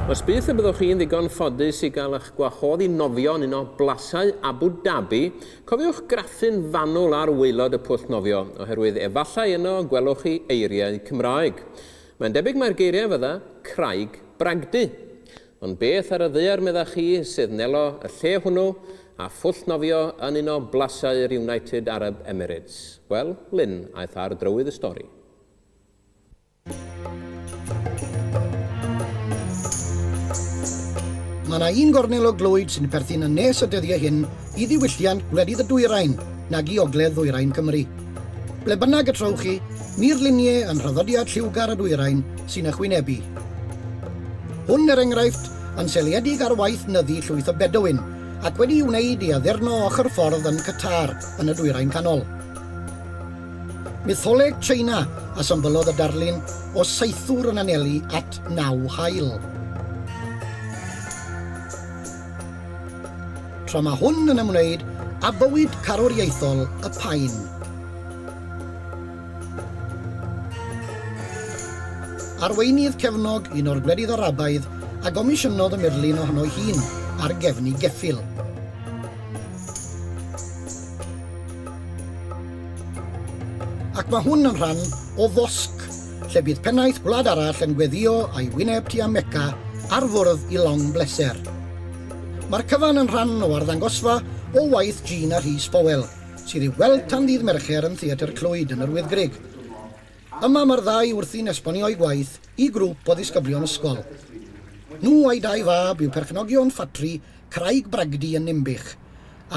Os byth y byddwch chi'n ddigon ffodus i gael eich gwahodd i nofio yn un o blasau Abu Dhabi, cofiwch graffu'n fanwl ar waelod y pwll nofio, oherwydd efallai yno gwelwch chi eiriau Cymraeg. Mae'n debyg mai'r geiriau fydda, Craig Bragdy. Ond beth ar y ddaear meddach chi sydd nelo y lle hwnnw a phwll nofio yn un o blasau'r United Arab Emirates? Wel, Lynn aeth ar drywydd y stori. Mae yna un gornel o glwyd sy'n perthyn yn nes y dyddiau hyn i ddiwylliant gwledydd y dwyrain nag i ogledd ddwyrain Cymru. Ble bynnag y trowch chi, murluniau yn rhyddodiad lliwgar y dwyrain sy'n ychwynebu. Hwn, er enghraifft, yn seliedig ar waith nyddu llwyth o Bedouin ac wedi wneud i addurno ochr ffordd yn Qatar yn y Dwyrain Canol. Mytholeg Tsieina a symbylodd y darlun o saethwr yn anelu at naw haul. Tra mae hwn yn ymwneud â bywyd carwriaethol y paun. Arweinydd cefnog un o'r gwledydd Arabaidd a gomisiynodd y murlun ohono'i hun ar gefn ei geffyl. Ac mae hwn yn rhan o fosg lle bydd pennaeth gwlad arall yn gweddio a'i wyneb tua Mecca ar fwrdd i long bleser. Mae'r cyfan yn rhan o arddangosfa o waith Jean a Rhys Powell, sydd i'w weld tan ddydd Mercher yn Theatr Clwyd yn yr Wyddgrug. Yma mae'r ddau wrthi'n esbonio'u gwaith i grŵp o ddisgyblion ysgol. Nhw a'i dau fab yw perchnogion ffatri Craig Bragdy yn Ninbych,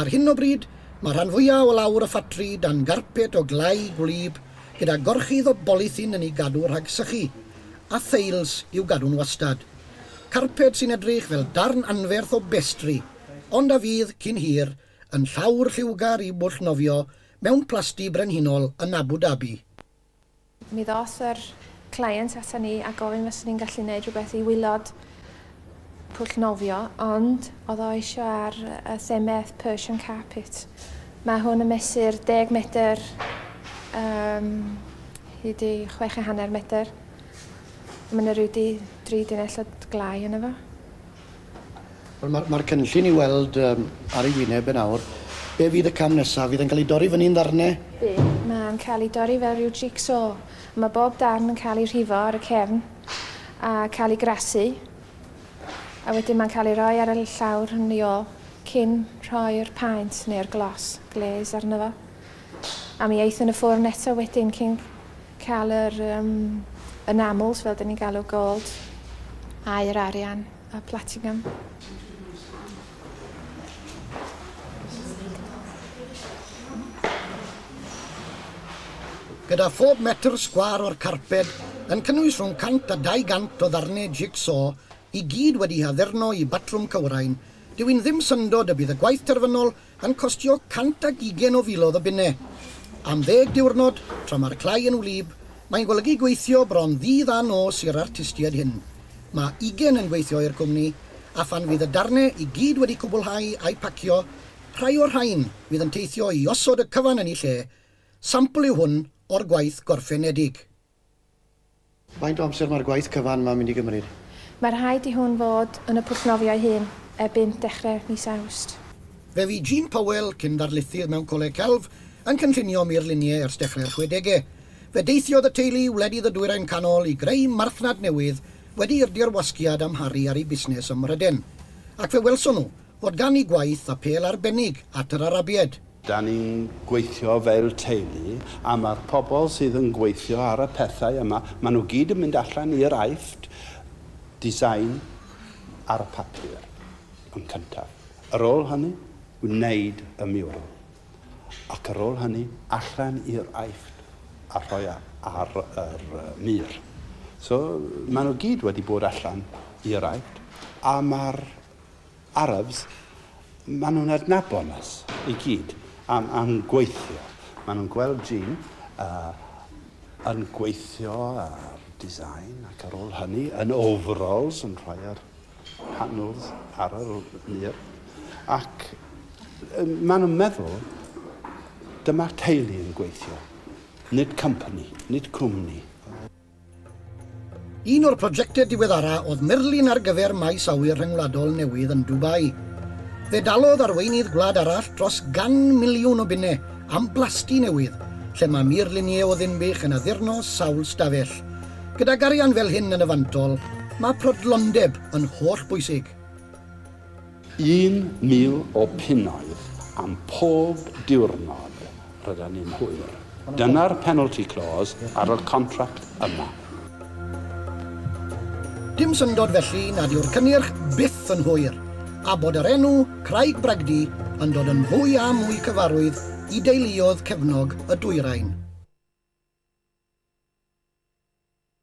Ar hyn o bryd, mae rhan fwyaf o lawr y ffatri dan garped o glai gwlyb gyda gorchudd o bolithyn yn ei gadw rhag sychu, a theils i'w gadw'n wastad. Carped sy'n edrych fel darn anferth o bestri, ond a fydd, cyn hir, yn llawr lliwgar i bwll nofio mewn plasty brenhinol yn Abu Dhabi. Mi ddoth yr client ata ni a gofyn fyswn i'n gallu neud rhywbeth i wilod pwll nofio, ond oedd o eisio ar y themedd Persian carpet. Mae hwn yn mesur 10 medr um, hyd i chwech a hanner medr. Mae yna rhyw di, dri dinell o glai yna fo. Wel ma'r ma'r cynllun i weld yym ar ei wyneb e nawr be' fydd y cam nesa fydd e'n ca'l ei dorri fyny'n ddarne? Bydd. Ma'n ca'l ei dorri fel ryw jig-so. Ma' bob darn yn ca'l ei rhifo ar y cefn a ca'l ei grasu a wedyn ma'n ca'l ei roi ar y l- llawr yn i ôl cyn rhoi'r paent neu'r glos, glaze, arno fo. A mi eith yn y ffwrn eto wedyn cyn Cael yr yym enamels fel 'dyn ni'n galw gold a yr arian y platinum. Gyda phob metr sgwâr o'r carped yn cynnwys rhwng 100 a 200 o ddarnau jig-so, i gyd wedi'u haddurno i batrwm cywrain, dyw hi'n ddim syndod y bydd y gwaith terfynol yn costio cant ac ugain o filoedd o bunnau. Am ddeg diwrnod, tra mae'r clai yn wlyb, mae'n golygu gweithio bron ddydd a nos i'r artistiaid hyn. Mae ugain yn gweithio i'r cwmni, a phan fydd y darnau i gyd wedi cwblhau a'u pacio, rhai o'r rhain fydd yn teithio i osod y cyfan yn eu lle. Sampl yw hwn o'r gwaith gorffenedig. Faint o amser mae'r gwaith cyfan 'ma'n mynd i gymryd? Mae rhaid i hwn fod yn y pwllnofio ei hun erbyn dechrau mis Awst. Fe fu Jean Powell, cyn-ddarlithydd mewn Coleg Celf, yn cynllunio murluniau ers dechrau'r chwedegau. Fe deithiodd y teulu i wledydd y Dwyrain Canol i greu marchnad newydd wedi i'r dirwasgiad amharu ar eu busnes ym Mhrydain. Ac fe welson nhw, Fod gan ni gwaith apêl arbennig at yr Arabiaid. Dan ni'n gweithio fel teulu, a ma'r pobl sydd yn gweithio ar y pethau yma, maen nhw gyd yn mynd allan i'r Aifft, design ar y papur yn cyntaf. Ar ôl hynny, wneud y mural. Ac ar ôl hynny, allan i'r Aifft a rhoi e ar yr mur. So, maen nhw gyd wedi bod allan i'r Aifft, a ma'r Arabs, maen nhw'n adnabod nas i gyd am am gweithio. Maen nhw'n gweld Jean uh, yn gweithio ar design ac ar ôl hynny yn overalls yn rhoi ar panels ar yr mur. Ac maen nhw'n meddwl dyma'r teulu yn gweithio, nid company, nid cwmni. Un o'r projectau diweddara oedd murlun ar gyfer Maes Awyr Rhyngwladol newydd yn Dubai. Fe dalodd arweinydd gwlad arall dros gan miliwn o bunnau am blasty newydd lle mae murluniau o Ddinbych yn addurno sawl stafell. Gydag arian fel hyn yn y fantol, mae prodlondeb yn hollbwysig. Un mil o punnoedd am pob diwrnod rydan ni'n hwyr. Dyna'r penalty clause ar y contract yma. Dim syndod felly nad yw'r cynnyrch byth yn hwyr, a bod yr enw 'Craig Bragdy' yn dod yn fwy a mwy cyfarwydd i deuluoedd cefnog y dwyrain.